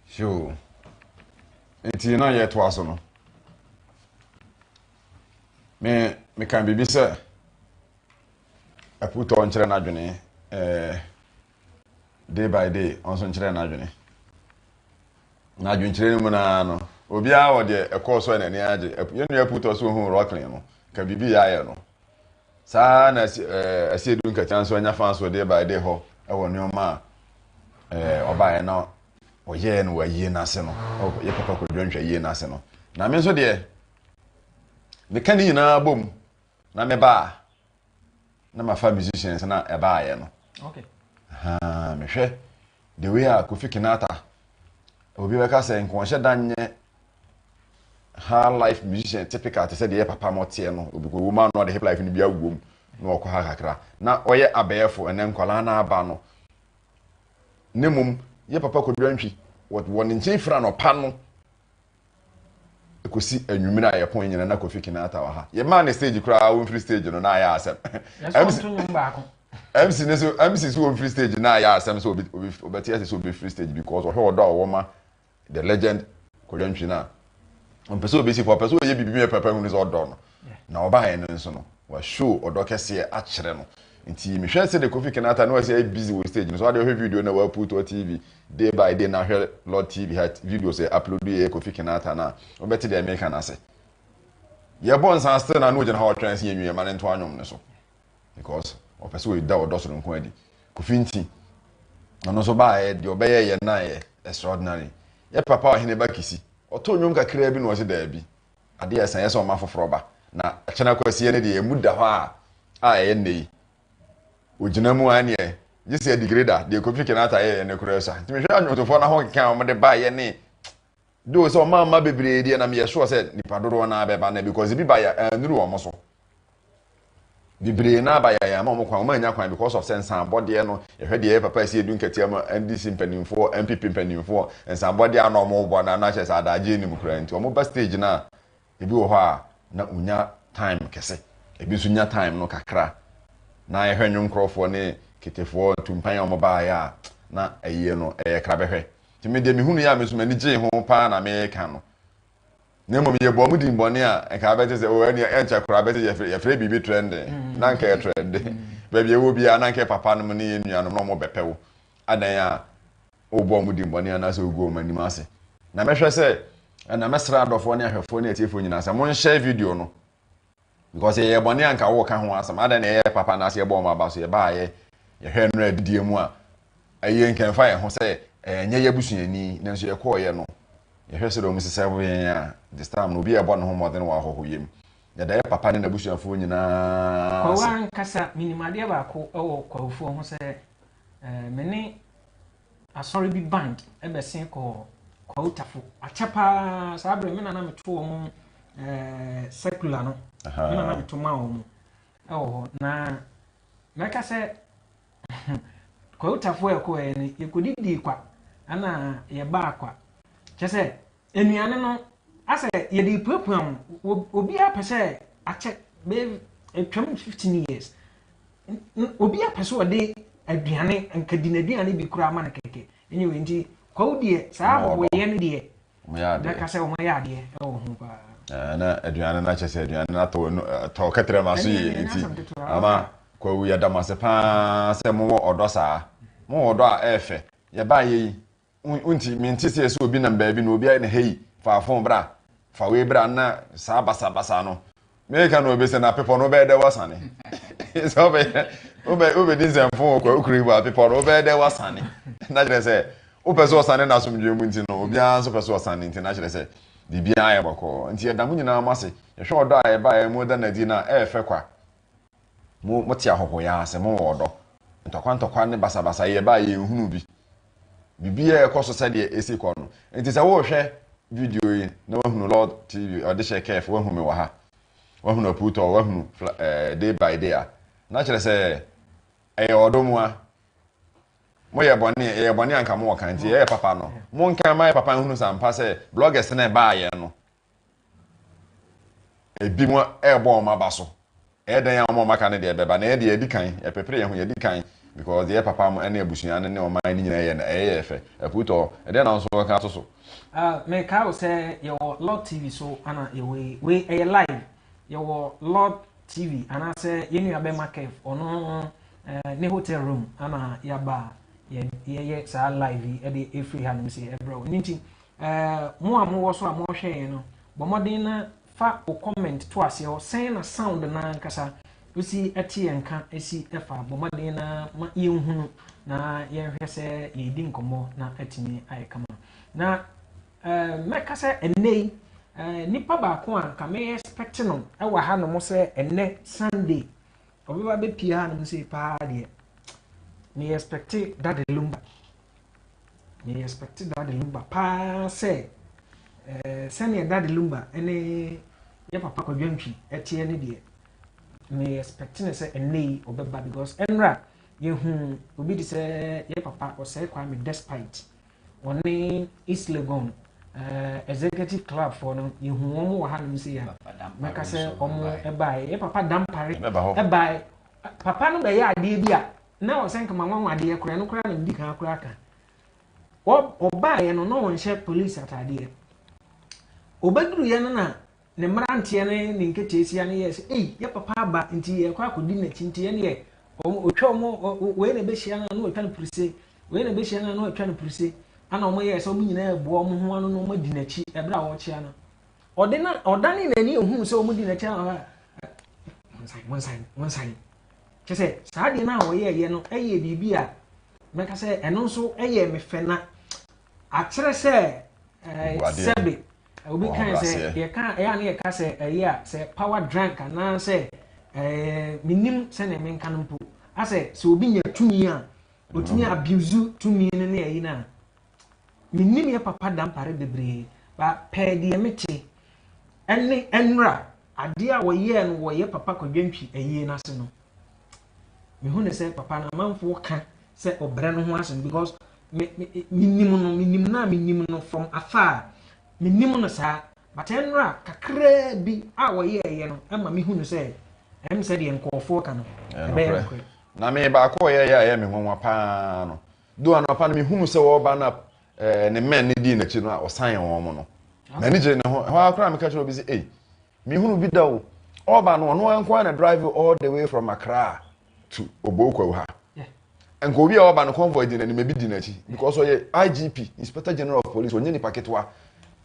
Sure. Nti na yɛtoa so no. Me meka biribi sɛ Ɛputɔ nkyerɛ n'adwene eh, day by day ɔnso nkyerɛ n'adwene. Na adwenkyerɛ no mu naa no, obiara wɔ deɛ ɛkɔɔ so a n'ani agye. Yɛn nua Ɛputɔ so ohun Rocklin no, ka biribi yɛ ayɛ no. Saa na eh, Asiedu Nkɛkyɛ nso anya fa so day by day hɔ wɔ nneɛma a eh, ɔbaeɛ na ɔyɛɛ no wɔ ayie no ase no, yɛ papa kwadwo nhwɛ ayie no ase no. Na me nso deɛ, meka ne nyinaa bom Na me ba a na mafa musicians na ɛbaayɛ no okay. uh, mehwɛ the way a Kofi Kinata obi bɛka sɛ nkɔnhyɛ da nyɛ high life musician typical te sɛ deɛ papa mo teɛ no obi kɔ wom a na ɔde hip life no bi awom na ɔkɔ ha kakra na ɔyɛ abɛɛfo ɛnɛ nkwadaa no aba no ne mom yɛ papa kɔdwa ntwi wɔ ne nkyɛn fira no ɔpa no Ɛkɔsi anwummere a yɛko nyina na Kofi Kinaata wɔ ha. Yɛmaa no stage koraa wɔmfiri stage no na ayɛ asɛm. MC ne so MC so wɔmfiri stage na ayɛ asɛm sɛ ɔbɛte ase sɛ ɔbɛfiri stage because ɔhwɛ ɔdɔ a ɔwɔ ma the legend Kodwo Antwi no a ɔmpɛ sɛ ɔbɛsi fam ɔpɛ sɛ ɔyɛ biribi ma papa hunu sɛ ɔdɔ no. Na ɔbaeɛ no nso no wa show ɔdɔ kɛseɛ akyerɛ no nti mehwɛ sɛdeɛ Kofi Kinaata na wasi ayɛ busy wɔ stage no so adeɛ ɔhwɛ video na wa put wɔ TV day by day na hwɛ Lord TV ha videos yɛ upload yɛ Kofi Kinaata no a wobɛte deɛ meka no ase yɛ bɔ nsa still na na ogyina hɔ ɔtwɛn sɛ yɛ nwie ma ne nto anwom no so because ɔpɛ sɛ ɔda ɔdɔ soro nko adi Kofi nti ɔno nso baeɛ deɛ ɔbɛyɛ yɛ naeɛ extraordinary yɛ papa ɔhene ba kisi ɔtɔ nnwom kakraa bi na ɔse daabi Ade a ɛsa yɛ sɛ ɔma foforɔ ba, na Akyena Kwasia no deɛ emu da hɔ ara a ɛyɛ nnɛ yi. Ɔgyina mu ara neɛ gye sɛ Digreda, deɛ Kofi Kinata yɛeɛ no koraa sua. Nti mehwɛ nnwomtofoɔ no ahokeka a wɔde baeɛ ne though sɛ wɔamma amma bebree deɛ na meyɛ sure sɛ nnipa dodoɔ no ara bɛba nnɛ because ebi baeɛ a annuru wɔn so. Bebree no ara ba yɛn ama wɔn kwan, wɔn annya kwan because of sɛ nsanbɔdeɛ no yɛhwɛ deɛ ɛyɛ papa ɛsi ɛdu nkatia mu a NDC mpanimfoɔ, NPP mpanimfoɔ nsanbɔdeɛ a na wɔn rebɔ no a na kyerɛ sɛ adagye nni mu koraa nti wɔn ba stage no a ebi wɔ hɔ a na wɔnya time kɛse ebi nso nya time no kakra na yɛhwɛ nnwomkorɔfoɔ ne ketefoɔ ntumpan a wɔn baeɛ a na ayie no ɛyɛ krabɛhwɛ nti me deɛ mehunu yɛ a me nso m'ani gyee ho paa na meka no Na mmom yɛbɔɔ mu din bɔne a nka abɛte sɛ, oh, ɛnea ɛnkyɛ koraa bɛte yɛfrɛ, yɛfrɛ biribi trɛnde, na anka ɛyɛ trɛnde. Baabi a ɛwɔ biara, na anka papanom ne yɛn nuanom na wɔbɛpɛ wo. Adɛn a wobɔɔ mu din bɔne anaasɛ woguu wɔn anim ase? Na mɛhwɛ sɛ, na mɛsrɛ adɔfoɔ ne ahwɛfoɔ ne atiefoɔ nyinaa sɛ, monhyɛ video no. Because yɛ yɛ bɔne a nka wo ka ho asɛm adɛn na yɛ yɛ papa anaasɛ yɛ bɔ wɔn aba so yɛ ba a yɛ yɛ hwɛ nnura adidie mu a ɛyɛ nka ɛnfa yɛ ho sɛ ɛyɛ nyɛ yɛ busuani nanso yɛ kɔɔ yɛ no yɛ hwɛ sɛ dɛ wɔn sisɛ bo yɛn a this time no obi yɛ bɔ ne ho mmɔden wɔ ahɔho yɛ mu yɛ da yɛ papa ne na busuafoɔ nyinaa Kwawu ankasa menim adeɛ baako wɔ kwawufoɔ ho sɛ eh, me ne Asɔre bi band bɛsen kɔɔ Kwautafo. Akyɛ paa saa berɛ me na na meto wɔn ɛɛ eh, circular no. Me na na meto ma wɔn ɛwɔ hɔ na mɛka sɛ Kwautafo a ɛkɔɛ no yɛkɔdidii kwa ɛna yɛbaa kwa kyɛ sɛ Nnuane no, asɛ yɛde repuapua mo, obiara pɛ sɛ akyɛ bɛyɛ atwam fifteen years, obiara pɛ sɛ ɔde aduane nka di n'aduane bi koraa ma no kɛkɛ. Anyway, nti kwawu deɛ saa bɔbɔyɛ no deɛ, bɛka sɛ wɔn ayɛ adeɛ wɔ ho paa. Eh, na aduane no akyɛ sɛ aduane no atɔ tɔ kɛtrɛ ma so yie nti ama kwawu yɛda mo ase paa sɛ mowɔ ɔdɔ saa mowɔ ɔdɔ a ɛɛfɛ yɛbaayɛ yi Wonte me nte sɛ sɛ obi nam baabi na obi ayɛ no hei fa fon bra fa wei bra na saa basabasa no meka na obi sɛ na pepɔ no wobɛyɛ dɛ wasane sɛ wobɛ wobɛdi nsɛmfo wɔ kwakuri wɔ apepɔ no wobɛyɛ dɛ wasane na kyerɛ sɛ wopɛ sɛ ɔsane na asomdwoe mu nti no obiara nso pɛ sɛ ɔsane nti na kyerɛ sɛ biribiara ayɛ bɔkɔɔ nti yɛda mo nyinaa mo ase yɛhwɛ ɔdɔ a ɛbaeɛ mu da no adi na ɛɛfɛ kwa Mo mote ahɔhoyɛ ase, mo wɔ ɔdɔ. Ntɔkwa ntɔkwa ne basabasayɛ yɛ baa yɛn nhunu bi. Biribiara ɛkɔ so sɛdeɛ ɛsi kɔ no. Nti sɛ worehwɛ video yi na wahunu Lord TV, ɔde hyɛ kɛɛf, wahunu me wɔ ha, wahunu apuutɔ, wahunu day by day a, na kyerɛ sɛ ɛyɛ ɔdɔ mu a. Mo yɛ bɔne, ɛyɛ bɔne anka mo wɔ kan, nti ɛyɛ papa no. Mo nka ma yɛ papa nhunu sɛ ampa sɛ bloggers na ɛbaa yɛn no. Ebinom rebɔ wɔn aba so. Ɛyɛ dɛn a wɔn a wɔaka no deɛ bɛba? Na yɛn deɛ yɛadi kan, yɛpepere yɛn ho, yɛadi kan because deɛ ɛyɛ papa mo ne abusua no ne ɔman no nyinaa yɛ no, ɛyɛ yɛn fɛ. Akuutɔ, ɛdeɛn na wo nso wobɛka ato so? Ah, mekae wo sɛ yɛwɔ Lord TV so ana yɛwɔ yi? Wei ɛyɛ live. Yɛwɔ Lord TV anaasɛ yɛn nua bɛma Kev, ɔno eh, ne hotel room ana yɛaba a yɛ- yɛyɛ saa live yi de ɛfiri ha nom sɛ ɛbrɛ wo. Ɛno nti, Ɛɛ mo a mowɔ so a morehwɛ yɛn no, bɔ mmɔden na fa wo comment to aseɛ hɔ. Sɛn na sound no ankasa si te yɛn nka si fa? Bɔ mmɔden na ma yɛnhunu na yɛnhwɛ sɛ yɛredi nkɔmmɔ na atumi ayɛ kama. Na ɛɛ mɛka sɛ ɛnnɛ yi ɛɛ nipa baako a nka mɛyɛ expect no wɔ hanom sɛ ɛnnɛ Sunday ɔbɛba bɛpie hanom sei paa deɛ meyɛ expect Dade Lumba. Me expect Daddy Lumba paa sɛ ɛɛ sɛnea Daddy Lumba ne yɛ papa Kwadwo Antwi teɛ ne deɛ me expect ne sɛ ɛnɛ yi ɔbɛba because ɛnra yɛhu obi te sɛ yɛ papa ɔsɛe Kwame despite ɔne East Legon uh, executive club for no yɛhu wɔn wɔ ha nom sɛ ya mɛka sɛ wɔn ɛbae yɛ papa dampare ɛbae papa no bɛyɛ adeɛ bi a na ɔsɛ nka mahu anwanwadeɛ koraa ɛno koraa na medi kan koraa ka ɔbaeɛ no na ɔnhyɛ police ataadeɛ ɔbɛduruiɛ no na ne mmeranteɛ ne ne nketeesia no yɛɛ sɛ ei yɛ papa aba nti yɛkɔ akɔdi n'akyi nti ɛneɛ ɔtwa ɔmo wei na ɛbɛhyia no ano ɔtwa no pirise wei na ɛbɛhyia no ano ɔtwa no pirise ana ɔmo yɛɛ sɛ ɔmo nyinaa ɛboa ɔmo ho ano na ɔmo adi n'akyi ɛberɛ a ɔrekyea no ɔde na ɔdane n'ani ɛhuu sɛ ɔmo di n'akyi a ɔba monsan monsan monsan Kyerɛ sɛ, saa adeɛ no a wɔyɛeɛ no yɛ biribi a mɛka sɛ ɛno nso yɛ me fɛ na akyerɛ sɛ sɛbe obi kan sɛ yɛka ɛyɛ a na yɛka sɛ ɛyɛ a sɛ power drunk anaasɛ menim sɛdeɛ menka no mpo asɛ sɛ obi nya tumi a ɔtumi abuse tumi no ne ayi no a Menim yɛ papa Dampare bebree ba pɛɛ deɛ me te ɛne ɛnra adeɛ a wɔyɛɛ no wɔ yɛ papa kwadwantwi ayie no ase no mehu ne sɛ papa no amanfoɔ ka sɛ ɔbrɛ no ho asɛm because menim no menim no a menim no from afar menim no saa but ɛnra kakraa bi a wɔyɛɛyɛ no ɛma mehu no sɛ ɛm sɛ deɛ nkɔɔfoɔ ka no ɛbɛyɛ nokorɛ na me baako ɔyɛɛyɛ a ɛyɛ me nwanwa paa no Though anɔpa no mehunuu sɛ wɔreba na eh, ne men no dii n'akyi no a ɔsan wɔn mo no. M'ani gyee ne ho. Ɛhɔ ara koraa meka kyerɛ obi sɛ, ei, mehunu bi da o. Ɔreba no, ɔno nko ara na drive all the way from Accra to Obokwawu ha. Nka obi a ɔreba no convoy di n'anim, ebi di n'akyi because ɔyɛ IGP, Inspector General of Police, ɔnyɛ nipa ketewa.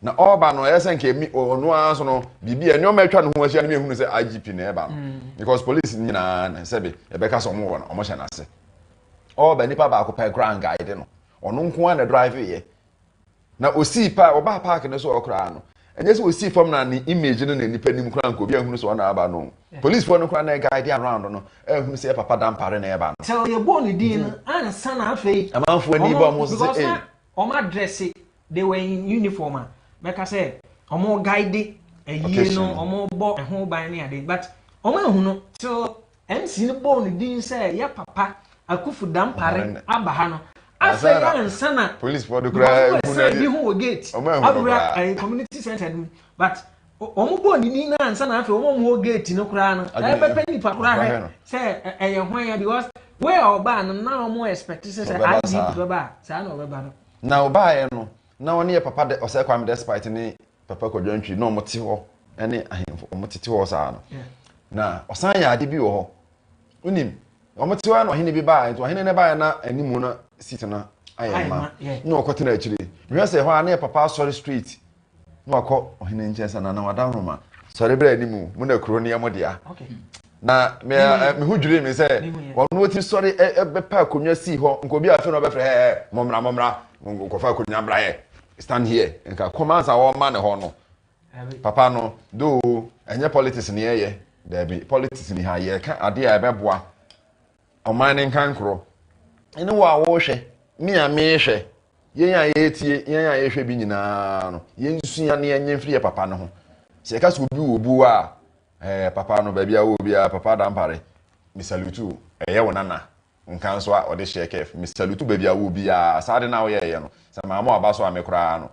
Na ɔreba no, ɛyɛ sɛ nka emi ɔno ara nso no, biribi a nneɛma atwa ne ho ahyia no mehunu sɛ IGP na ɛreba no mm. because police nyinaa sɛbe ɛbɛka sɛ wɔn wɔ no, wɔhyɛ n'ase. All but nipa baako pɛ koraa anguide no. Ɔno nko ara na drive yɛ. Na osii pa, ɔbaa park no so hɔ koraa no, ɛnyɛ sɛ osii fam na ne image no na nipa nim koraa nka obi ahunu sɛ ɔna aba no. Police foɔ no koraa na guide around no, ahunu sɛ yɛ papa Dampare na ɛba no. Sɛ ɔyɛ bɔɔ ne din no ansa na afei. Amanfoɔ ani bɔ ɔmo sɛ ei. Ɔmo adresse, they were in uniform a, mɛka sɛ ɔmo guide ayie no, ɔmo bɔ ɛho ban ne ade but ɔmo ahunu till. MC no bɔɔ no din sɛ yɛ papa Akuffo Dampare aba ha no. Afei ansa na wɔn ɛsan bi ho wɔ gate awura ɛyɛ community center no mu but wɔn bɔɔ ne din no ansa na afei wɔn wɔ gate no koraa no ɛbɛpɛ nipa koraa hwɛ sɛ ɛyɛ hwan ya because wei a ɔbaa no na wɔn expect sɛ sɛ IGP bɛba a saa na ɔbɛba no. Na ɔbaeɛ no Na wɔn yɛ Papa Dɛ, Osei Kwame Despite ne Papa Kwadwo Antwi na wɔn te hɔ ne ahemfo, wɔn tete hɔ saa no. Na ɔsan yɛ ade bi wɔ hɔ, wonim, wɔn te hɔ na ɔhene bi baa, nti ɔhene no baa na animu na seat no ayɛ ma, na ɔkɔ tena akyire. Mehwɛ sɛ hɔ a na yɛ Papa Asɔre Street, na wakɔ ɔhene nkyɛn sɛ Nana wada nhoma, sɔre bra animu, mo na kuro no yɛ mo dea. Na me mm. me ho dwirii me sɛ ɔno wɔtumi sɔre bɛpa akonnwa sii hɔ nka obi a afei na ɔbɛfrɛ ɛ ɛ mɔmmra mɔmmra nkɔfa akonnwa mmra yɛ stand here nka kɔma ansa wɔma ne hɔ no papa no doo ɛnyɛ politics ne yɛyɛ daabi politics ni ha yɛka adeɛ a ɛbɛboa ɔman ne nka nkorɔ ɛne wɔ a wɔrehwɛ me a mehwɛ yɛn a yɛretie yɛn a yɛhwɛ bi nyinaa no yɛnsua ne yɛnyɛ mfiri yɛ papa no ho sɛ yɛka sɛ obi wɔ obuo a Ɛɛ papa no baabi a wowɔ biara papa Dampare me salute wo ɛyɛ wo nana nka nso a ɔde hyɛɛ kɛɛf me salute wo baabi a wowɔ biara saa ade no a woyɛɛyɛ no sɛ maa mo aba so a me koraa no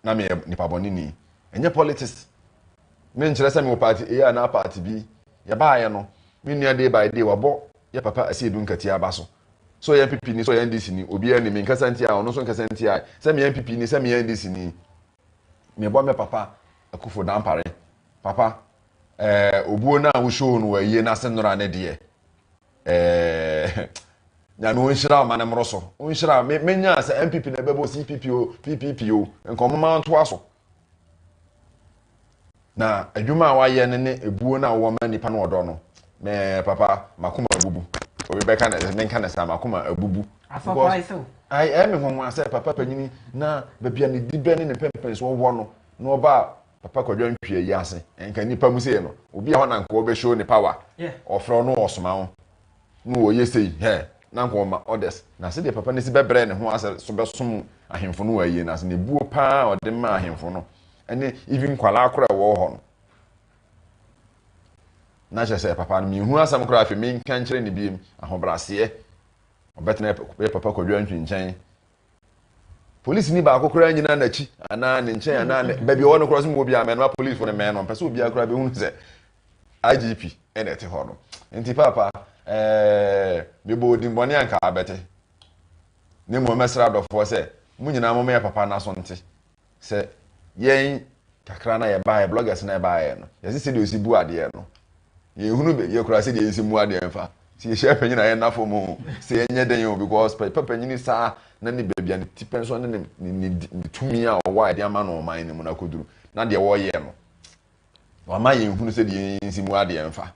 na meyɛ nipa bɔneni ɛnyɛ politics me nkyerɛ sɛ mewɔ party A anaa party B yɛbaayɛ no me nua day by day wabɔ yɛ papa Asiedu Nkati aba so sɛ ɔyɛ NPP ni sɛ ɔyɛ NDC ni obiara ni me nkasa ntia ɔno nso nkasa ntia sɛ meyɛ NPP ni sɛ meyɛ NDC ni Mebɔ me papa Akuffo Dampare. Papa, eh, obuo no a wo show no wɔ ayie no ase nnora ne deɛ, eh, Nyame onhyira ɔma no mmoro so. Onhyira, me, menyaa sɛ NPP na ɛbɛbɔ CPP o, PPP o, nka ɔmoma ntoa so. Na adwuma a wayɛ no ne ebuo no a ɔwɔ ma nnipa no ɔdɔ no me papa makoma abubu obi bɛka no menka no saa makoma abubu ɛyɛ me nwanwa sɛ papa panyini na baabi a ne dibɛ ne ne mpɛmpɛnsoɔ wɔ no na ɔba papa kwadwa ntwea yi ase nka nnipa mu sei no obi a hɔ na nka ɔbɛhyɛ ne power ɔfrɛ no ɔsoma ho na ɔyɛ sei hɛ, na anka ɔma orders, na sɛdeɛ papa no si bɛbrɛɛ ne ho ase so bɛsom ahemfo no wɔ ayie no ase no, buo pa ara a ɔde maa ahemfo no ne even nkwadaa koraa a ɛwɔ hɔ no. Na kyerɛ sɛ papa no menhu asɛm koraa afei menka nkyerɛ ne biem ahobraseɛ ɔbɛtena yɛ papa kwadwa ntwi nkyɛn polisini baako koraa nyina n'akyi anaa ne nkyɛn anaa ne baabi ɔwɔ no koraa so mu obi a mɛnoma polisifo no mɛnoma mpɛ sɛ obiara koraa bɛhunu sɛ igp ɛna ɛte hɔ no nti paapa ɛɛ mebɔ odimmɔne anka abɛte ne mmom mɛsrɛ adɔfoɔ sɛ mo nyinaa mo mɛyɛ papa n'aso nte sɛ yɛn kakra na yɛbaeɛ bloggers na yɛbaeɛ no yɛse sɛ deɛ ɔsi bu adeɛ no yɛhunu baabi akura sɛ deɛ yɛsi mu adeɛ mfa sɛ yɛhyɛ panyin a yɛna fam o sɛ yɛnyɛ den o because pɛ panyini saa na ne baabi a ne ti pɛn so ne ne tumi a ɔwɔ a yɛde ama no ɔman no mu no akɔduru na deɛ wɔyɛ no Wama yɛn hunu sɛ deɛ yɛn nsi mu adeɛ mfa.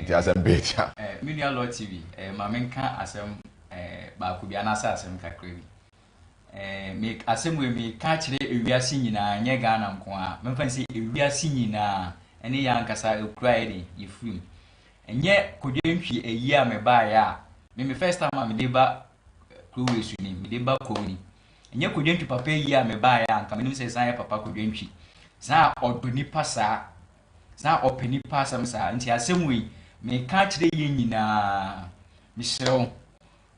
Nti asɛm bɛɛ tia. Eh, me nua Lord TV, eh, ma menka asɛm eh, baako bi anaasɛ asɛm kakra bi. Eh, me asɛm wei meka akyerɛ ewiase nyinaa, nyɛ Ghana nko a, memfa ne sɛ ewiase nyinaa, ɛne yɛ ankasa ɛkura yɛ de, yɛfiri mu. Ɛnyɛ kodwantwi ayi a mebaeɛ a, me me first time a mede ba eh, kuro wei so ni, mede ba kom ni. Ɛnyɛ Kodwantwi papa yi a mebaeɛ a anka menim sɛ ɛsan yɛ papa Kodwantwi. Saa a ɔdɔ nnipa saa. Saa a ɔpɛ nnipa asɛm saa. Nti asɛm wei, meka akyerɛ yɛn nyinaa, mesrɛ wo,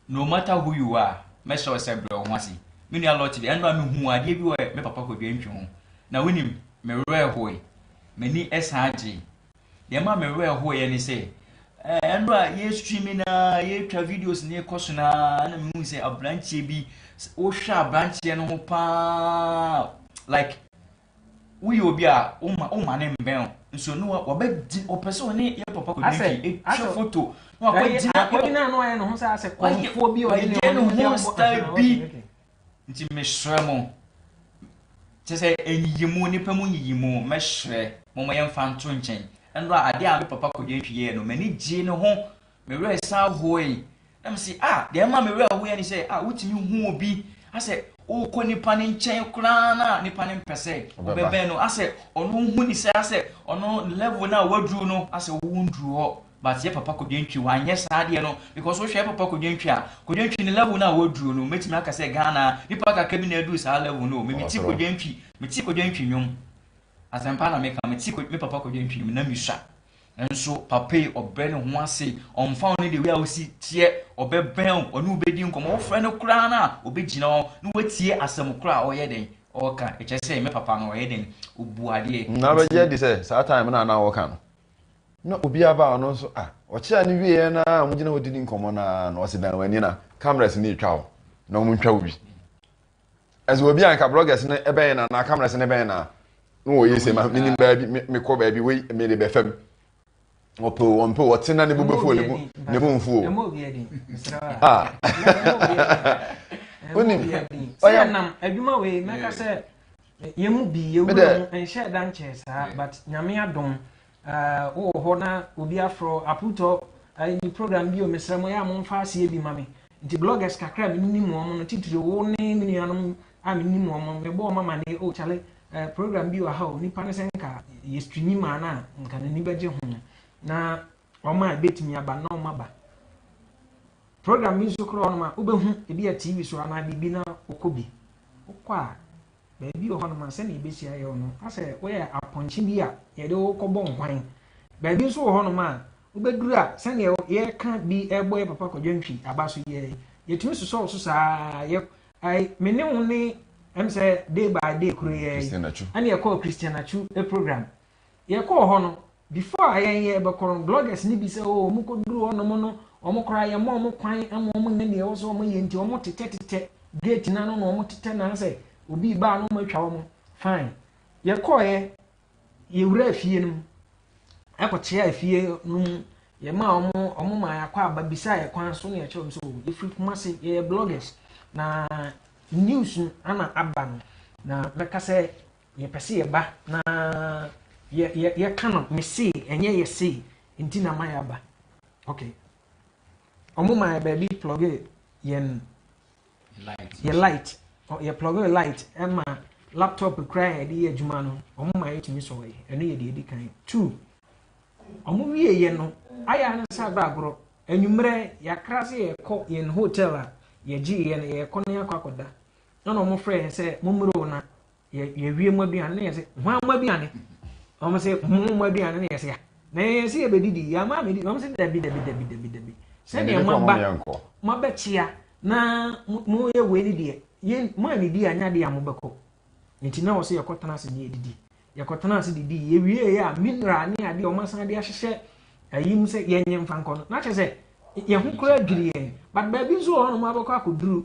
no matter who you are, mɛsrɛ wo sɛ brɛ wo ho ase. Me nua Lɔte deɛ, ɛno a mehuu adeɛ bi wɔ me papa Kodwantwi ho. Na wonim, me werɛ hoe. M'ani san gyee. Deɛ ɛma me werɛ hoeɛ ne sɛ ɛnora eh, yɛ streaming na yɛtwa videos ne ɛkɔ so na na mehu sɛ aberanteɛ bi wohwɛ aberanteɛ no ho paa like woyɛ obi a woma ne mbɛn o nso no wɔbɛgye ɔpɛ sɛ ɔne yɛ papa kɔ didi ɛtwa foto na wakɔgyina akɔgyina no ayɛ ne ho sɛ asɛ kɔnfoɔ bi ɔyɛ ne ho style bi Nti mesrɛ mo, kyerɛ sɛ nyiyimu, nnipa mu nyiyimu, mɛsrɛ mo ma yɛmfa nto nkyɛn. Ɛno a, adeɛ a me papa Kogyentwi yɛeɛ no, m'ani gyee ne ho, me werɛ san hoe. Na mese, ah, deɛ ɛma me werɛ hoeɛ ne sɛ, ah, wotumi hu obi, asɛ wokɔ nipa no nkyɛn koraa no a, nipa no mpɛ sɛ wobɛbɛn no, asɛ ɔno wohu ne sɛ asɛ ɔno ne level no a waduru no, asɛ wo wonduru hɔ. but yɛ papa kodwantwi wanyɛ saa adeɛ no because wo hwɛ yɛ papa kodwantwi a kodwantwi no level no a waduru no mɛtumi aka sɛ Ghana nipa kakra bi na aduru saa level no o me mete kodwantwi mete kodwantwi nwom asɛmpa na meka mete me papa kodwantwi nwom na mesua nso papa yi ɔbrɛ ne ho ase ɔmfa wo ne de wei a wosi teɛ ɔbɛbɛn wo ɔne wobɛdi nkɔmmɔ wofrɛ no koraa no a ɔbɛgyina hɔ na watie asɛm koraa a ɔyɛ dɛn ɔka ɛkyɛ sɛ me papa no ɔyɛ dɛn ɔbu adeɛ na bɛgye adi sɛ saa time no a na wɔka no na obiara baa ɔno nso ah ɔkyea no wieɛ no ara a wɔgyina hɔ didi nkɔmmɔ no ara no ɔse dan w'ani na cameras no retwa wo na wɔntwa wo bi ɛsɛ obi a nka bloggers no ɛbɛn na na cameras no ɛbɛn na na wɔyɛ sɛ ma menim baabi mekɔ baabi wei mede bɛfam ɔpɛ o ɔmpɛ o ɔte na ne bo bɛfu o ne bo ne bo nfu o ah wonim ɔyɛ nam adwuma wei mɛka sɛ Yɛn mu bi yɛ wura mu nhyɛɛ da nkyɛɛ saa but Nyame adom uh, wowɔ hɔ na obi afrɔ aputɔ uh, ni program bio mesrɛ mo yɛ a momfa aseɛ bi ma me nti bloggers kakra a menim mu ɔmo no titiri wo ne me nuanom a menim mu ɔmo mebɔ ɔmo amaneɛ o oh, kyale uh, eh, program bi wɔ ha o nipa no sɛ nka yɛstrinyi maa no a nka n'ani bɛgye ho na Wɔn a ebetumi aba na wɔn aba. Program bi nso koraa hɔnom a wobɛhu ebi a TV so anaa biribi na wokɔ bi. Wokɔ a baabi wɔ hɔnom a sɛnea ebesi ayɛ wo no asɛ woyɛ apɔnkye bi a yɛde wo kɔbɔ nhwan. Baabi nso wɔ hɔnom a wobɛduru a sɛnea yɛka bi ɛbɔ yɛ papa kwadwo ntwi aba so yɛ yɛtumi sosɔ wo so saa yɛ ai me ne wo ne ɛm sɛ day by day kuro yɛ ɛne ɛkɔɔ Christian Atsu program Yɛkɔɔ hɔ no, before a yɛn yɛ bɛkɔ no, bloggers no bi sɛ oh wɔn kɔ duru hɔ nom no, wɔn koraa yɛ mma wɔn kwan ma wɔn nyɛ deɛ ɛwɔ sɛ wɔn yɛ nti wɔn tetɛ tetɛ gate no ano na wɔn tetɛ na sɛ obi baa no wɔn atwa wɔn, fine. Yɛkɔɔ yɛ, yɛ wura efie no mu, ɛkɔ kyea efie no mu, yɛ maa wɔn, wɔn maa yɛakɔ aba bisa yɛ kwan so na yɛkyerɛ wɔn sɛ oh yɛfiri Kumasi, yɛyɛ bloggers na news no ana aba no na mɛka sɛ Yɛpɛ sɛ yɛba na yɛka no mesee ɛnyɛ yɛsee nti na ma yɛaba. Ok. Ɔmo ma yɛ baabi plɔge yɛn yɛ light. Yɛ plɔge light ɛma laptop kura yɛ de yɛ adwuma no ɔmo ma yɛtumi sɔɔ yɛ. Ɛno yɛ deɛ edi kan. Two, ɔmo wie yɛ no ayɛ ano sɛ abɛ agorɔ. Anwummerɛ yɛakra sɛ yɛkɔ yɛn hotel a yɛgye yɛ no yɛkɔ na yɛakɔ akɔda. na na wɔfrɛ yɛn sɛ mommere o na yɛwie mo aduane na yɛsɛ hwan mo aduane wɔn sɛ mo mo aduane na yɛsɛ ya na yɛn sɛ yɛbɛdidi yɛn ama amedi wɔn sɛ dabi dabi dabi dabi dabi sɛdeɛ mo aba mo abɛkyea na mo yɛ wei ne deɛ yɛn mo anidi anya deɛ a mo bɛkɔ nti na wɔsɛ yɛkɔtena ase ne yɛdidi yɛkɔtena ase didi yɛwie yɛ a mineral ne adeɛ wɔn asan de ahyehyɛ ayi mu sɛ yɛnyɛ mfa nkɔ no na kyɛ sɛ yɛn ho kora adwiri yɛn but baabi nso wɔ hɔ nom abɛkɔ akɔduru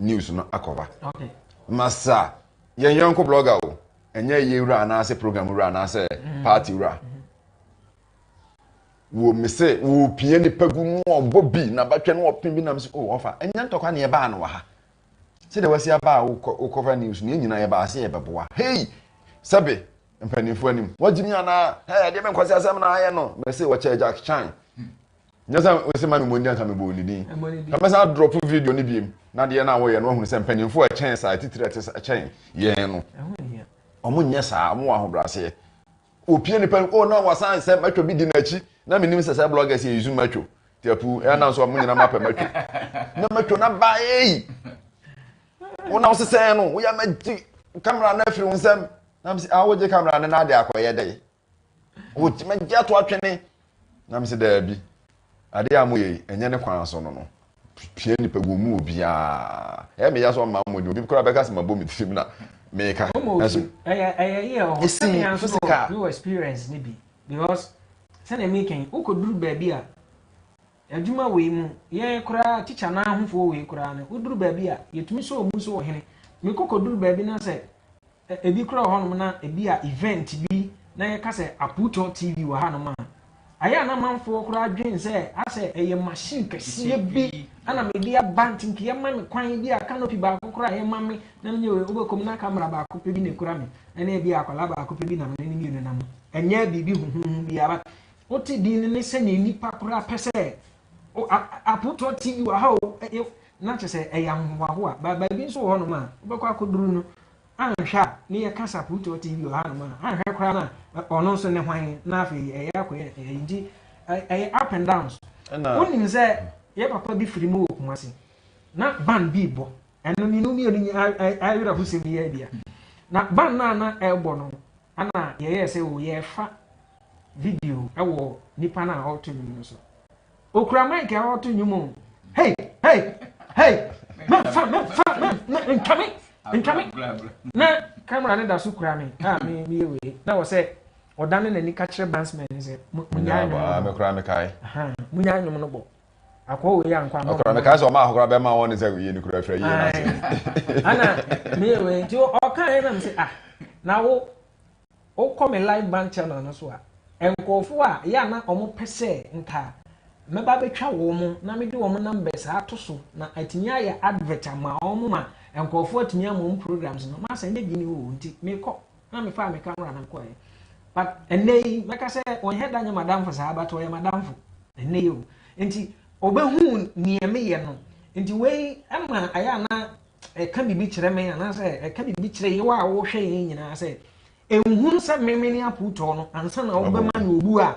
news no akɔba ma sa yɛn yɔnko blogger o ɛnyɛ yɛ wura anaasɛ program wura anaasɛ mm. party wura mm-hmm. wɔ me sɛ wɔpia nipa gu no ɔbɔ bi na batwa no ɔpem bi nam sɛ o oh, ɔfa ɛnyɛ ntɔkwa ne ɛbaa no wɔ ha sɛdeɛ wasi abaa wokɔfa news no yɛnyina yɛbaa sɛ yɛbɛboa hei sɛbe mpanimfoɔ anim wɔgyimi anaa ɛdeɛ bɛnkɔse asɛm na ayɛ no mɛse wɔkyɛ jack chan Nyɛ sɛ wose ma me mmɔ ndin anka me bɔɔ ne din. Ka mɛsan adrɔpo video no biom na adeɛ no a wɔyɛ no wahunu sɛ mpaninfoɔ a ɛkyɛn saa atitire a ɛte kyɛn yɛn no wɔn nyɛ saa wɔn wɔ ahobraseɛ wɔpie nipa no oh na wasan sɛ matwa bi di n'akyi na menim sɛ sɛ bloggers yɛ yuzu matwo ti apu ɛyɛ nan so a mo nyina mapɛ matwo na matwo na ba eyi wɔn a wɔsesɛn no wɔyɛ ma gye kamera no afiri wɔn nsam na mo sɛ awogye kamera no na ade akɔyɛ dɛ wotumi agye ato atwene na mesɛ daabi adeɛ a moyɛ yi ɛnyɛ ne kwan so no no pia nipa gu mu obiara ɛyɛ meya so ɔma mmɔden obi koraa bɛka sɛ mabɔ me tirim na meka ɛso ɛyɛ yɛ ɔho sɛmea nso wɔ experience no bi because sɛnea meka yi wokɔduru baabi a adwuma wei mu yɛn koraa tikya no ahofoɔ wei koraa no woduru baabi a yɛtumi sɛ ɔmu nso wɔ hene mekɔkɔduru baabi no sɛ Ɛ ebi koraa wɔ hɔnom na ebi a event bi na yɛka sɛ Aputɔ TV wɔ hanom a, ayɛ a na amanfoɔ koraa dwen sɛ asɛ ɛyɛ machine kɛseɛ bi na mede aba nti nka yɛma me kwan ebi a canopy baako koraa a yɛma me na menyɛ wei, wobɛkɔ mu na camera baako pɛ bi na ɛkura me ɛne ebi a akwadaa baako pɛ bi na mene ne mmienu nam. Ɛnyɛ biribi huhuuhu biara but wote din no ne sɛdeɛ nnipa koraa pɛ sɛ O, a, apotoɔ ti bi wɔ ha o, ɛyɛ, na kyerɛ sɛ ɛyɛ ahohoahoa. Ba, baabi nso wɔ hɔnom a, wobɛkɔ akɔduru no, anhwɛ a, ne yɛka sɛ apotoɔ ti bi wɔ hanom a, anhwɛ koraa no a, ɔno nso ne hwan, na afei ɛyɛ akɔyɛ ɛyɛ, nti, ɛyɛ up and downs. Ɛna. Wonim sɛ yɛ papa bi firi mu wɔ Kumasi, na ban bi rebɔ, ɛno mmienu mmienu, ayerɛhosɛm yi ara bi a, na ban no a na ɛrebɔ no, Ana yɛyɛɛ sɛ o yɛrefa video wɔ nipa no a ɔreto nnwom no so. Okura mic a ɔreto nnwom o. Hey hey hey mɛnfa mɛnfa mɛn ntwame ntwame na camera no da so kura me a ah, me meyɛ wei na wɔ sɛ ɔdane n'ani ka kyerɛ bansman no sɛ munyaa nnwom no bɔ. Munyaa nnwom no bɔ. akɔ wei ankɔ ahɔ. Ɔkura mi kaa sɛ ɔma akɔkora bɛma wɔn ne sɛ yie ni kura fira yie na ase. Ana mi yɛ wei nti ɔka yɛ na mi sɛ ah na wo wo kɔ mi live band channel no so a nkurɔfo a yɛ ana wɔn pɛ sɛ nka mɛba bɛtwa wɔn na mi de wɔn numbers ato so na atumi ayɛ advert ama wɔn ma nkurɔfo atumi ama wɔn programs no ma sɛ nye bi ni o nti mi kɔ. na mefaa me camera no kɔɛ but ɛnɛ yi mɛka sɛ ɔnyɛ da nyɛ madamfo saa but ɔyɛ madamfo ɛnɛ yi o nti ɔbɛhu nea meyɛ no nti wei ɛma ayɛ ana ɛka biribi kyerɛ me anaasɛ ɛka biribi kyerɛ yɛ wɔ a wɔhwɛ yɛn nyinaa sɛ ɛnhunu sɛ meme ne apotɔɔ no ansa na wobɛma no obu a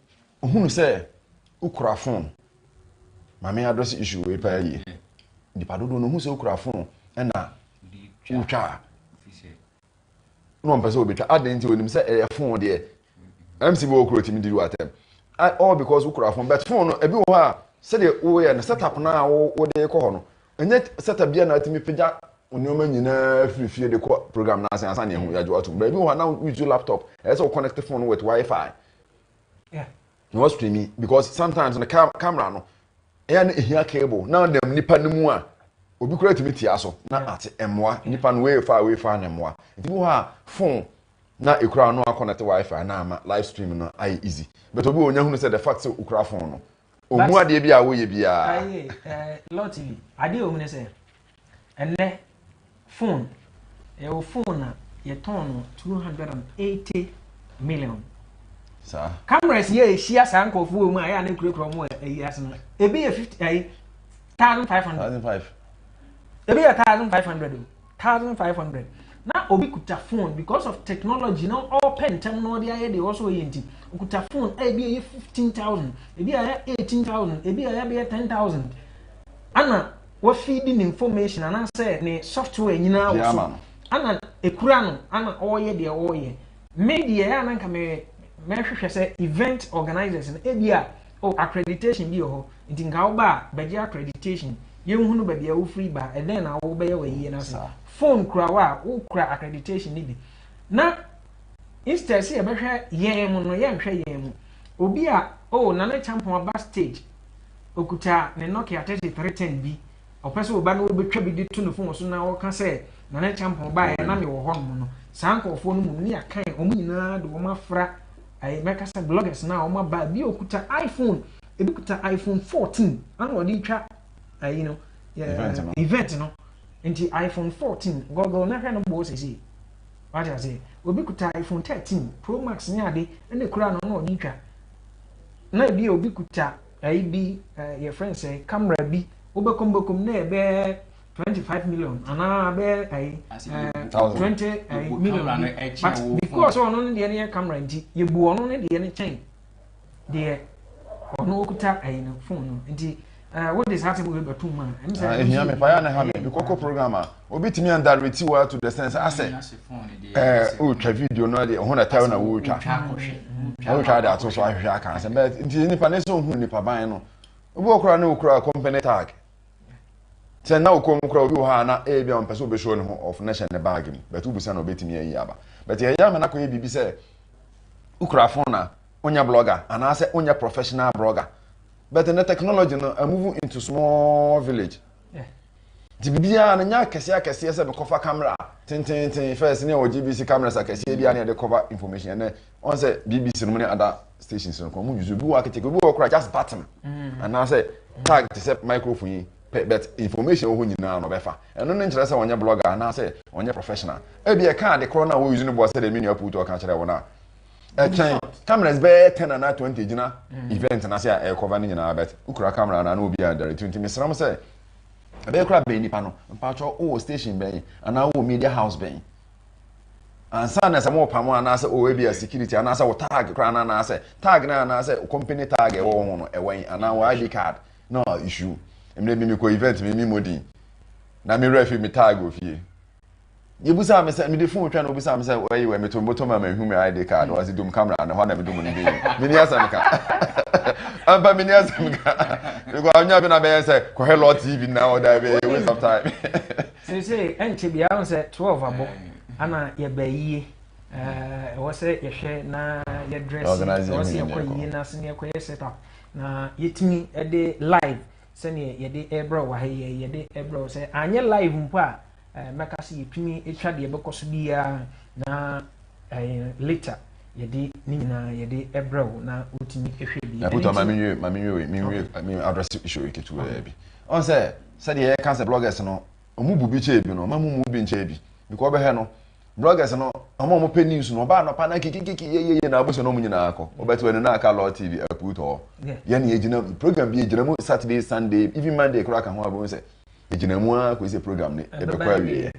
Ohunu sɛ wokura fon. Maame adrɛse issue wei paa yie. Nipa dodoɔ no ohunu sɛ wokura fon ɛna wotwa a na wɔmpɛ sɛ wɔbɛtwa. Adɛn nti onim sɛ ɛyɛ fon deɛ MC bi wɔ kuro timi di wo atɛm. All because wokura fon but fon no ebi wɔ hɔ a sɛdeɛ woyɛ no setup no a wode kɔ hɔ no ɛnyɛ setup bi a na atumi pagya nneɛma nyinaa firi fie de kɔ program no ase ansa na ehu yɛagye atom. Baabi wɔ hɔ a na wo use laptop ɛyɛ sɛ wo connect fon no with wifi Yeah. Na wa stream because sometimes the cam camera no ɛyɛ na ehia cable na nam nipa no mu a obi kura tumi tia so na ate mmoa nipa no wei fa wei fa na mmoa nti bi hɔ a phone na ekura no akɔnɛte wifi na ama live stream no ayɛ easy but obi wɔ nya hunu sɛ the fact sɛ okura phone no Ɔmu adeɛ bi a woyɛ biara. Aye, eh, Law TV, adeɛ wɔ mu ne sɛ, ɛnɛ, phone, ɛwɔ eh, phone na yɛtɔn no 280 million. Saa. Cameras yɛ ɛhyia saa nkurɔfoɔ wɔ mu a ɛyɛ a ne nkurakura mu ɛyi eh, ase no, ebi yɛ 50, ayi, 1,500. 1,500. Ebi yɛ 1,500 o. thousand five hundred na obi kuta phone because of technology na ɔpɛ ntɛm na ɔde ayɛ deɛ ɔsɔ ɔyɛ nti okuta phone a ebi ɛyɛ fifteen thousand ebi ɛyɛ eighteen thousand ebi ɛyɛ bɛyɛ ten thousand ana wafi di ne information anaasɛ ne software nyinaa wɔ so ana ekura no ana ɔyɛ deɛ ɔyɛ me deɛ ɛyɛ ananka mɛ mɛhwehwɛ sɛ event organizers no ebi a. Oh accreditation bi wɔ hɔ nti nka wo ba a bɛgye accreditation yɛnhunu baabi a wofiri ba ɛdɛn na wo bɛyɛ wɔ ayie no ase phone kura wo a wo kura accreditation no bi na instead sɛ yɛbɛhwɛ yɛn mu no yɛnhwɛ yɛn mu obi a oh nana kyampɔn aba stage okuta ne nokia 3310 bi Ɔpɛ sɛ ɔba na ɔbɛtwa bi de to ne fon so na ɔka sɛ Nana Kyampɔn baeɛ na mewɔ hɔnom no. Saa nkurɔfoɔ no mmom ne yɛakan wɔn nyinaa de wɔn afra ɛɛ mɛka sɛ bloggers no a wɔn aba ebi ɔkuta iPhone ebi kuta iPhone 14 ana ɔde retwa ɛyi no event no nti iPhone 14 gɔgɔɔ na hwɛ no bɔɔ sɛsɛ wate ase obi kuta iPhone 13 Pro Max ne ade ɛna kura no na ɔde retwa na ebi obi kuta Ayi bi yɛfrɛ no sɛ camera bi wobɛkɔm bɛkɔm na ɛbɛyɛ twenty five million anaa bɛyɛ ayi twenty million but because ɔno ne deɛ no yɛ camera nti yɛbu ɔno ne deɛ no kyɛn deɛ ɔno okuta ayi no phone no nti wode saa sɛ wobɛtum a ɛm sɛ ɛhia me paa na ha me mekɔkɔ program a obi tumi andareti wa to the sense asɛ ɛɛ wotwa video no de ɔho na tɛw na wotwa wotwa de ato so ahwehwɛ aka asɛm bɛɛ nti nipa ne sɛ ohun nipa ban no obi wɔ kora ne okura company tag sɛ na okɔn mu kora obi wɔ hɔ a na ebi a ɔmpɛ sɛ obɛhyɛ ne ho ɔfo na hyɛ ne bag mu bɛtɛ obusa na obetumi ayi aba bɛtɛ ɛyɛ ama nakɔ yɛ biribi sɛ okura phone na onyɛ blogger anaasɛ onyɛ professional blogger bɛtɛ ne technology no amuvu into small village. Nti biribiara no nyɛ akɛseɛ akɛseɛ sɛ mekɔfa camera tenteenten first ne ɛwɔ GBC cameras akɛseɛ bi a ne yɛde cover information ɛnɛ ɔn sɛ BBC no mu ne ada stations no kɔn mu use obi wɔ akɛkyɛ obi wɔ kora just button mm. anaasɛ tag te sɛ microphone yi pɛ but information wɔ hɔ nyinaa na ɔbɛfa ɛno ne nkyerɛ sɛ ɔnyɛ blogger anaasɛ ɔnyɛ professional ebi ɛka ade korɔ no a wɔuse no boɔ sɛ deɛ me nua puutu ɔka kyerɛ wɔn a ɛkyɛn cameras bɛyɛ ten anaa twenty gyina mm. event na se a ɛrekɔva ne nyinaa bɛt wokura camera na na obi a direct nti mesrɛ mo sɛ ɛbɛyɛ kora bɛn nipa no mpakyɛ wowɔ station bɛn anaa wowɔ media house bɛn ansa na sɛ mo pam anaasɛ o ebi a security anaasɛ wo tag kora na anaasɛ tag na anaasɛ company tag ɛwɔ wɔn ho no ɛwɔ yi anaa wɔ id card na issue mmerɛ bi mi kɔ event mi mi mo din na mi wura fi mi tag wɔ fie. Deɛ obisaa me sɛ, mede fon twa na obisaa me sɛ, ɛyi wɛ meto mbotom a mahu me ID card, ɔsi dum camera no hɔ na medum no dii. Meni asɛm ka. Ampa meni asɛm ka. Because anya bi na bɛyɛ sɛ kɔhwɛ Lord TV na ɔda oh, bɛyɛ waste of time. Sɛ sɛ ɛnkyɛ bi ahun sɛ 12 abɔ ana yɛbɛ yie. Ɛwɔ sɛ yɛhwɛ na yɛdrɛs ɛwɔ sɛ yɛkɔ yie na sɛ yɛkɔ yɛ set up na yɛtumi de live sɛdeɛ yɛde ɛbrɛ wɔ ha yɛ yɛde ɛbrɛ wɔ sɛ anyɛ live mpo a eh, mɛka sɛ yɛtumi twa deɛ ɛbɛkɔ so biara na eh, later yɛde ne nyinaa yɛde ɛbrɛ wo na wotumi hwɛ bi ɛpotɔ ma menwie ma menwie menwie me address issue yi ketewaa bi ɔn sɛ sɛdeɛ yɛka sɛ bloggers no ɔmu bu bi kyɛɛ bi no ɔma mu mu bi nkyɛɛ bi because ɔbɛhwɛ no bloggers no ɔma ɔmo pɛ news no ɔbaa nɔpa na kikikiki yeyeye na abusua no ɔmo nyinaa kɔ ɔbɛte wɔ ne na aka law tv ɛpotɔ yɛne yɛgyina program bi yɛgyina mu saturday sunday even monday koraa ka ho abɛhu sɛ egyina mu ara kɔsi sɛ program no ɛbɛkɔ awieɛ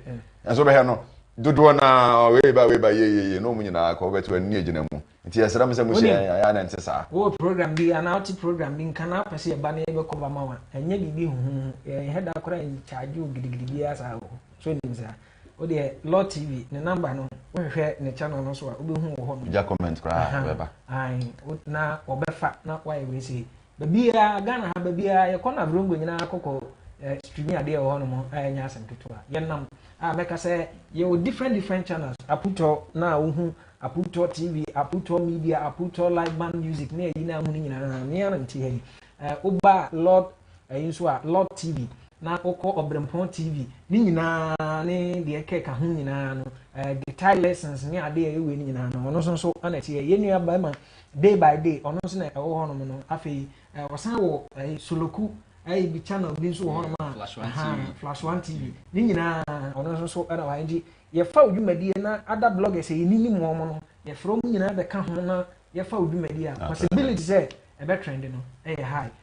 nanso wobɛhɛ no dodoɔ no a wei ba wei ba yeyeye na ɔmu nyinaa kɔ wobɛte ani agyina mu nti yɛsrɛ m sɛ mohyɛ ayɛ na nte saa wowɔ program bi anaa wote program bi nka na wopɛ sɛ yɛba no yɛbɛkɔ ba ma wa ɛnyɛ biribi huhuhu yɛnhɛ da koraa nkyagye wo gidigidi biara saa wɔ hɔ so nim saa wodeɛ law tv ne namba no wohwehwɛ ne channel no so a wobɛhu wɔ hɔ no gya comment koraa bɛba na wɔbɛfa na woayɛ wei sei Baabiara, Ghana ha baabiara, yɛkɔ no Avirongo nyinaa kɔkɔ eh, streami adeɛ wɔ hɔnom a ɛnyɛ asɛm ketewa. Yɛnam a mɛka sɛ yɛwɔ different different channels. Aputɔ na a wohu Aputɔ TV, Aputɔ Media, Aputɔ Live Band Music ne ayi na ahu no nyinaa mmea no nti ha yi. Eh, woba Lord ɛyi eh, nso a Lord TV na wokɔ Ɔbrɛmpɔn TV ne nyinaa ne deɛ kɛka ho nyinaa no eh, guitar lessons ne adeɛ ɛwei no nyinaa no ɔno nso nso ana ɛteɛ yɛn nua barima day by day ɔno nso na ɛwɔ hɔnom no afei eh, wɔsan wɔ eh, soloku ɛyɛ bi channel bi nso wɔ hɔnom a flash one tv flash one tv ne nyinaa ɔno nso so ɛna wɔn nti yɛfa odwumadie na ada bloggers yɛ ni nim wɔn no yɛfrɛ wɔn nyinaa bɛka ho na yɛfa odwumadie a possibility sɛ ɛbɛ trend no ɛyɛ high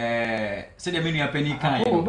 ɛɛ sɛdeɛ me nua panyin kan yɛ no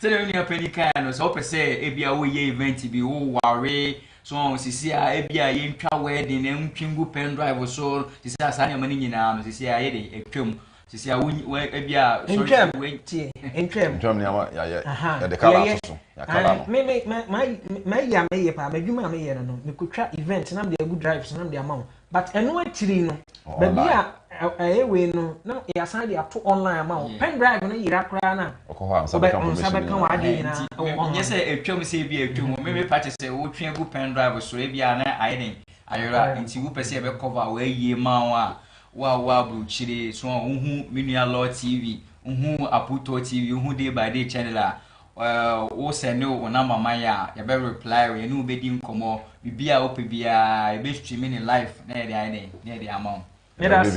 sɛdeɛ me nua panyin kan yɛ no sɛ ɔpɛ sɛ ebi a woyɛ event bi woware so wɔn sisi a ebi a yɛntwa wedding na ntwi ngu pen drive so sisi a saa nneɛma no nyinaa no sisi a yɛ de atwam sisi a wɔn ebi a ntwam tie ntwam ntwam nneɛma yɛyɛ yɛde kala ato so yɛakala no me me ma ma yɛ a meyɛ paa m'adwuma a meyɛ no no mekotwa event nam de agu drive so nam de ama wo But ɛno akyiri no baabi a ɛyɛ wei no na yɛasan de ato online ama wo. Pen drive no yera koraa no a, Wokɔ hɔ a, nsa bɛka wo nsa information bɛka nyinaa. w'adeɛ Ɛɛ, nyinaa nti wɔ me- nyɛ sɛ online. atwam sɛ ebi a atwam mu me mepa kyɛ sɛ wotwe agu pen drive so ebi a na ayɛ dɛn ayera Ayera. nti wopɛ sɛ yɛbɛ cover wo ayie ma wo a wo a wowɔ aburukyire so a wohu me nua law tv wohu aputɔ tv wohu day by day channel a Wo sɛne wo number ma yɛ a yɛbɛ reply wo, yɛne wo bɛdi nkɔmmɔ, biribiara a wopɛ biara yɛbɛ stream no live na yɛde ayɛ dɛn? Na yɛde ama wo. Yɛda ase